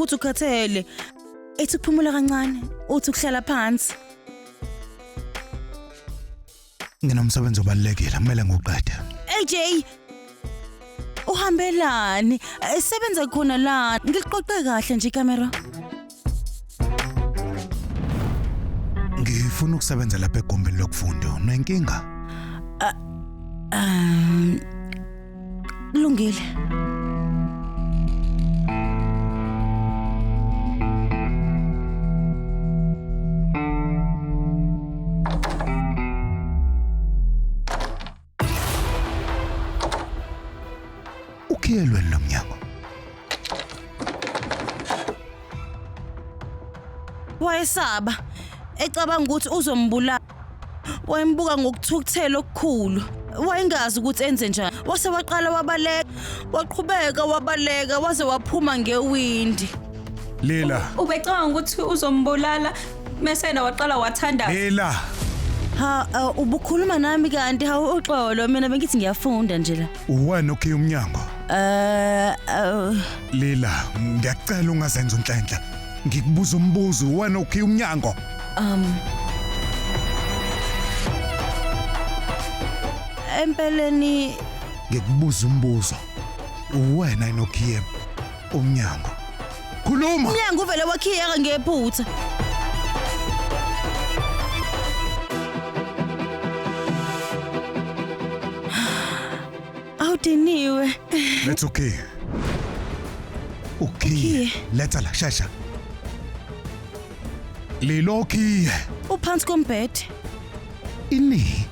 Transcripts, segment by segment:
ukuthi ukhathele ethi ukuphumula kancane uthi ukuhlala phansi nginomsebenzi obalulekile kumele ngiwuqede AJ uhambelani esebenza khona la ngiliqoqe kahle nje camera ngifuna ukusebenza lapha egumbini lokufunda unenkinga um Kulungile. Ukhiyelweni lo mnyango. Wayesaba ecabanga ukuthi uzombulala. wayembuka ngokuthukuthela okukhulu wayengazi ukuthi enze njani wase waqala wabaleka waqhubeka wabaleka waze waphuma ngewindi Lila, Ubecabanga ukuthi uzombulala mese yena waqala wathandaza. Lila. ha uh, ubukhuluma nami kanti hawu uxolo mina bengithi ngiyafunda nje la Uwani okhe umnyango? eh uh, Lila, ngiyacela ungazenza unhlanhla. Ngikubuza umbuzo, uwani okhe umnyango? Um Empeleni ngikubuza umbuzo. Uwena inokhiyem umnyango. Khuluma. Umnyango uvele wakhiyeka ngephutha. Awudiniwe. Let's okay. Okay. Let's ala shasha. Lilokhiye. Uphansi kombhede. Ini.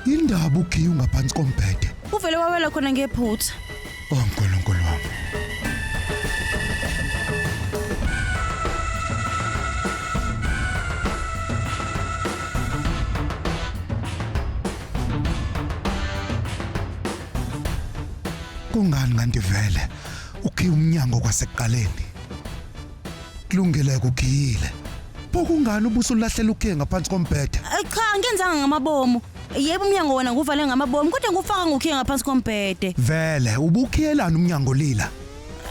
Indaba ukhiye ungaphansi kombhede. Uvele wawela khona ngephutha. Oh Nkulunkulu wami. Kungani kanti vele ukhiye umnyango kwasekuqaleni? kulungile kugiyile pho kungani ubuso ulahlela ukhe ngaphansi kombhede Eh, cha angenzanga ngamabomu yebo umnyango wona nguvale ngamabomu kodwa ngufaka ngokhiye ngaphansi kombhede vele ubukhiyelana umnyango lila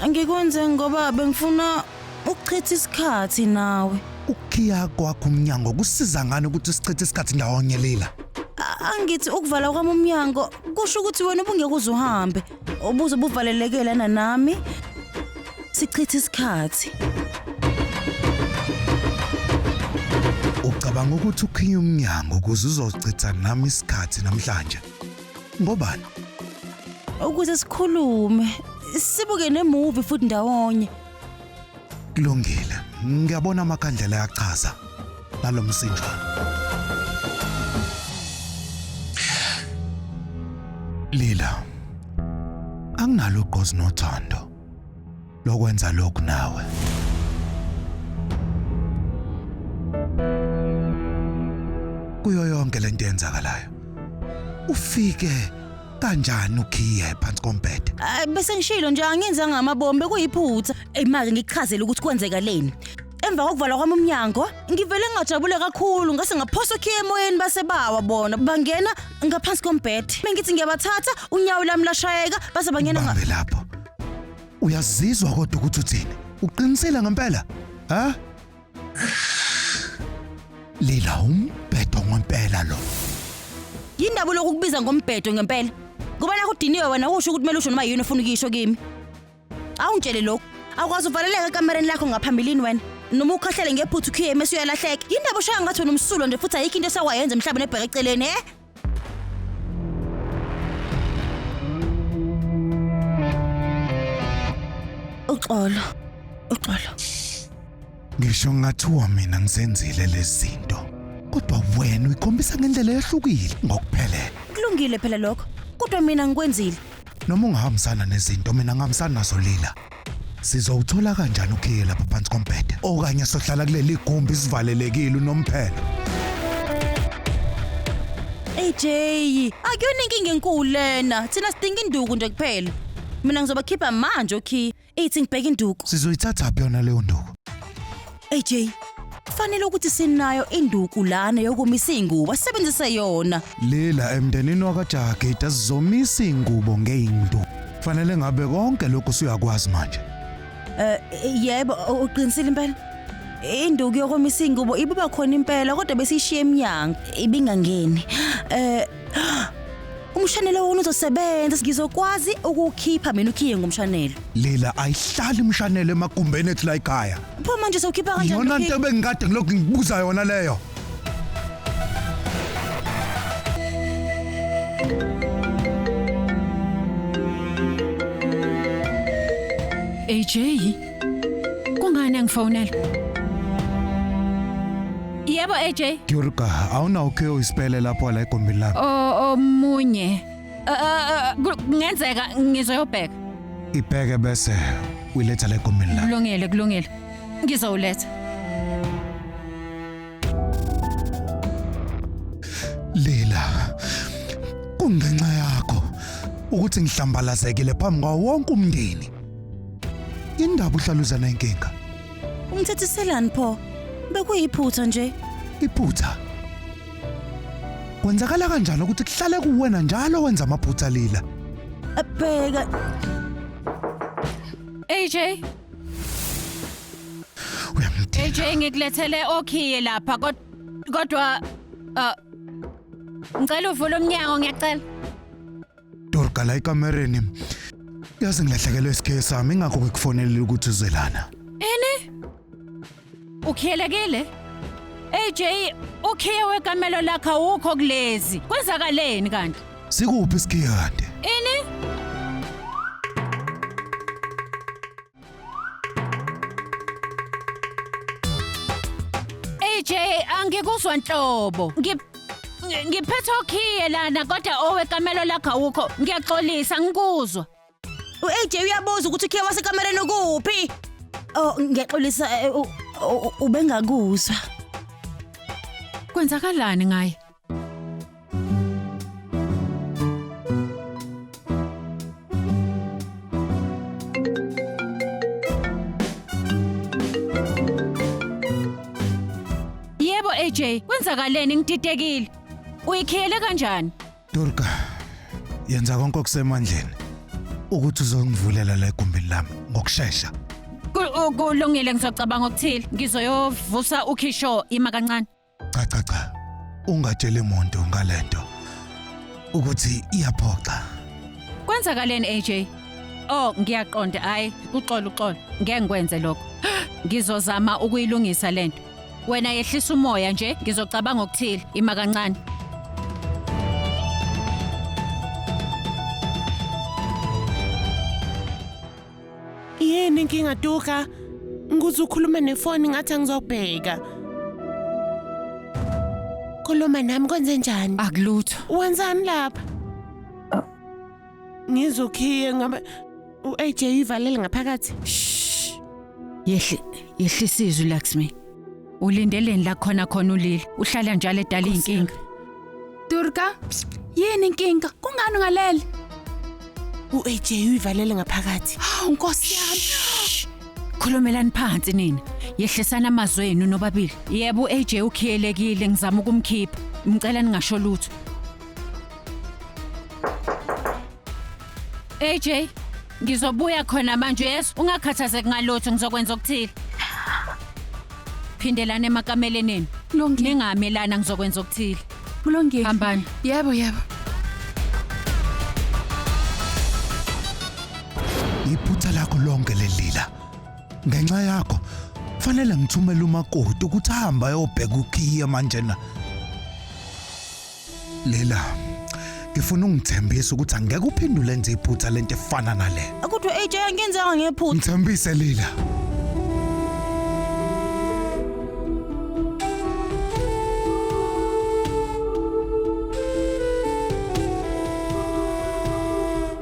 ngikwenze ngoba bengifuna ukuchitha isikhathi nawe ukukhiya kwakho umnyango kusiza ngani ukuthi sichithe isikhathi ndawonye lila A- angithi ukuvala kwami umnyango kusho ukuthi wena ubungeke uze uhambe ubuze ubuvaleleke lana nami sichithe isikhathi ucabanga ukuthi ukhinya umnyango ukuze uzochitha nami isikhathi namhlanje ngobani ukuze sikhulume sibuke nemuvi futhi ndawonye Kulungile, ngiyabona amakhandlela ayachaza ngalo msinjwana. Lila, anginalo ugqozi nothando lokwenza lokhu nawe. Kuyo yonke lento yenzakalayo. Ufike kanjani ukhiye phansi kombhede Ay, bese ngishilo nje angenzanga amabombe kuyiphutha eyi make ngichazele ukuthi kwenzeka leni emva kokuvalwa kwami umnyango ngivele ngingajabule kakhulu ngase ngaphosa okhiye emoyeni base bawa bona bangena ngaphansi kombhede bengithi ngiyabathatha unyawo lami lashayeka base bangena nga- bambe lapho uyazizwa kodwa ukuthi uthini uqinisile ngempela ha Lila umbhedo ngempela lo. Yindaba lokukubiza ngombhedo ngempela. Ngoba nakho udiniwe wena usho ukuthi kumele usho noma yini ofuna ukuyisho kimi. Awungitshele lokho. Awukwazi uvaleleka ekamereni lakho ngaphambilini wena. Noma ukhahlele ngephuthu ukhiye mase uyalahleka. Yindaba oshaya ngathi wena umsulo nje futhi ayikho into esawayenza emhlabeni ebheke eceleni, he? uxolo uxolo ngisho ngathiwa mina ngizenzile lezinto kodwa wena uyikhombisa ngendlela ehlukile ngokuphelele kulungile phela lokho kodwa mina ngikwenzile noma ungahambisana nezinto mina ngihambisana nazo lila Sizowuthola kanjani ukhiye lapha phansi kombhede? Okanye sohlala kuleli gumbi sivalelekile unomphelo. AJ, akuyona inkinga enkulu lena. Thina sidinga induku nje kuphela. Mina ngizobakhipha manje okhiye. Ithi ngibheke induku. Sizoyithathaphi yona leyo nduku? AJ, kufanele ukuthi sinayo induku lana yokomisa izingubo asebenzise yona. Lila emndenini wakajagida sizomisa ingubo ngeindu. Fanele ngabe konke lokhu suyakwazi manje. Eh yebo u- uqinisile impela. Induku yokomisa izingubo ibiba khona impela kodwa besishiye eminyango. Ibingangeni. Eh Umshanelo wona uzosebenza ngizokwazi ukuwukhipha mina ukhiye ngomshanelo. Lila ayihlali imshanelo emagumbeni ethu la ekhaya. Pho manje sowukhipha kanjani? Yona into ebengikade ngilokhu ngibuza yona leyo. AJ Kungani angifonela? Yebo AJ. Durga, awunawo ke isipele lapho la egombini lakho. O omunye. Uh, uh, uh, kungenzeka ngizoyobheka. Ibheke bese uyiletha la egombini lakho. Kulungile, kulungile. Ngizowuletha. Lila. Kungenxa yakho ukuthi ngihlambalazekile phambi kwawo wonke umndeni. Indaba uhlaluzana inkinga. Umthethiselani pho? Bekuyiphutha nje. Iphutha. Kwenzakala kanjani ukuthi kuhlale kuwena njalo wenza amaphutha lila? Bheka. AJ, Uyamdinga. AJ ngikulethele okhiye lapha kod- kodwa uh, ngicela uvule umnyango ngiyacela. Dorga la ekamereni. Yazi ngilahlekelwe isikhe sami ingakho ngikufonelile ukuthi uze lana. Ini? Ukhelekile? AJ, ukhiye wekamelo lakhe awukho kulezi. Kwenzakaleni kanti? Sikuphi isikhe kanti? Ini? AJ angikuzwa nhlobo. Ngi ngi- ngiphethe okhiye lana kodwa owekamelo lakho awukho. Ngiyaxolisa ngikuzwa. U-AJ uyabuza ukuthi ukhiye wasekamereni ukuphi? Oh, ngiyaxolisa eh, u- u- ubengakuzwa. Kwenzakalani ngaye? Yebo AJ, kwenzakaleni ngididekile? Uyikhiyele kanjani? Durga, yenza konke okusemandleni ukuthi uzongivulela la egumbini lami ngokushesha. Ku- u- Kulungile ngizocabanga okuthile. Ngizoyovusa uKisho ima kancane. Cha cha cha. Ungatsheli muntu ngalento ukuthi iyaphoxa. Kwenzakaleni AJ? Oh, ngiyaqonda hayi uxolo uxolo. Ngeke ngikwenze lokho. Ngizozama ukuyilungisa lento. Wena yehlisa umoya nje, ngizocabanga okuthile, ima kancane. Yini inkinga Tuka? Ngikuze ukhulume nefoni ngathi angizobheka. Khuluma nami kwenze njani? Akulutho. Wenzani lapha? Ngizokhiye ngoba u-AJ uyivalele ngaphakathi. Shh. Yehle, yehlisa izwi Laxmi. Ulindeleni la khona khona ulile? Uhlala njalo edala izinkinga. Durga, yini inkinga? Kungani ungalele? U-AJ uyivalele ngaphakathi. Hawu Nkosi yami. Khulumelani phansi nina. Yehlisana amazwi enu nobabili. Yebo uAJ ukhiyelekile ngizama ukumkhipha. Ngicela ningasho lutho. AJ, ngizobuya khona manje yes, ungakhathazeki ngalutho ngizokwenza okuthile. Phindelana emakameleni enu. Lungi. Ningamelana ngizokwenza okuthile. Kulungile. Hambani. Yebo, yebo. Iphutha lakho lonke lelila. Ngenxa yakho fanele ngithumele umakoti ukuthi ahambe ayobheka ukhiye manje na. Lila, ngifuna ungithembise ukuthi angeke uphendule nje iphutha lento efana nale. Kodwa AJ angenzanga ngephutha. Ngithembise Lila.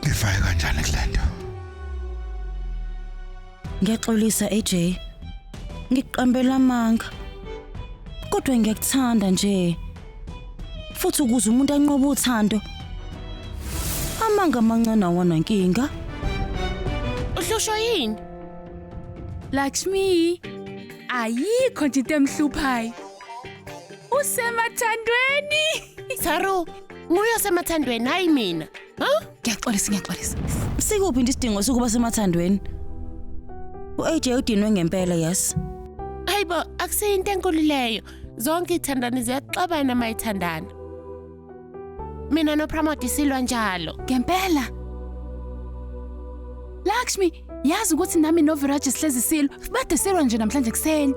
Ngifake kanjani kulento? Ngiyaxolisa AJ. Ngiqambela amanga. Kodwa ngiyakuthanda nje. Futhi ukuze umuntu anqobe uthando. Amanga amancane awana nkinga. Uhlushwa yini? Lakshmi, ayikho nje into emhluphayo. Usemathandweni. Saru, nguye osemathandweni hayi mina. Ngiyaxolisa, ngiyaxolisa. Sikuphi nje isidingo sokuba semathandweni? U-AJ udinwe ngempela, yes. Hayibo, akusiyo into enkulu leyo. Zonke ithandani ziyaxabana mayithandana. Mina noPramodi silwa njalo. Ngempela. Lakshmi, yazi ukuthi nami noViraj sihlezi silwa. Bade silwa nje namhlanje kuseni.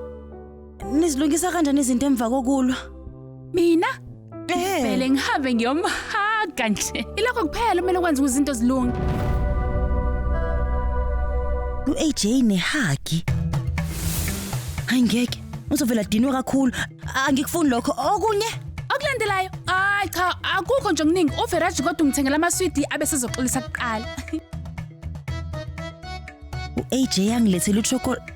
Nizilungisa kanjani izinto emva kokulwa? Mina Eh. vele ngihambe ngiyomhaga nje. Ilokho kuphela kumele ukwenza ukuze izinto zilunge. U-AJ nehagi. Hayi ngeke. Uzovela dinwe kakhulu. Angikufuni lokho. Okunye Okulandelayo, hayi cha akukho nje okuningi. UVeraji kodwa ungithengela amaswidi abe sezoxolisa kuqala. u-AJ angilethele uchocolate.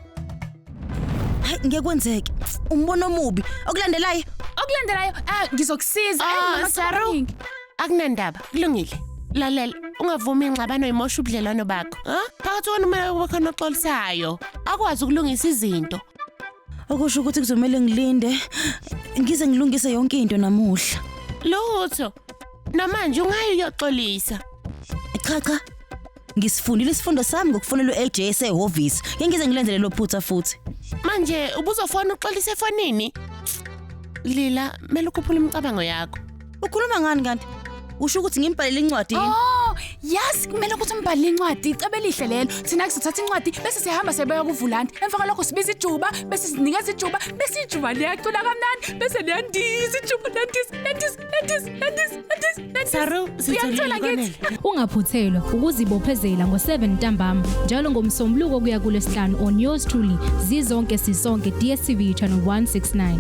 Hayi ngeke kwenzeke. Umbono omubi. Okulandelayo. Okulandelayo ah ngizokusiza. Ayi, Oh, mama, Saru. cabanga. Akunandaba. Kulungile. Lalela, ungavumi ingxabano imosha ubudlelwano bakho. Ha? Phakathi kwenu kumele kube khona oxolisayo. Akwazi ukulungisa izinto. Okusho ukuthi kuzomela ngilinde ngize ngilungise yonke into namuhla. Lutho. Namanje ungayi uyoxolisa. Cha cha. Ngisifundile isifundo sami ngokufonela uLJ esehhovisi. Ngeke ngize ngilenzele lo phutha futhi. Manje ubuzofona uxolise efonini? Lila, mele ukhuphule imicabango yakho. Ukhuluma ngani kanti? Usho ukuthi ngimbhalele incwadi yini? Oh, yazi kumele ukuthi umbhalele incwadi, icebo elihle lelo. Thina kusithatha incwadi bese sihamba sibeka kuvulandi. Emva kwalokho sibiza ijuba, bese sinikeza ijuba, bese ijuba liyacula kamnandi, bese liyandiza ijuba liyandiza, liyandiza. Aunties, aunties, aunties, aunties. Saru, Uyangithola ngithi. Ungaphuthelwa ukuzibophezela ngo-7 ntambama njalo ngomsombuluko kuya kulesihlanu on yours truly zizonke sisonke DSTV channel 169.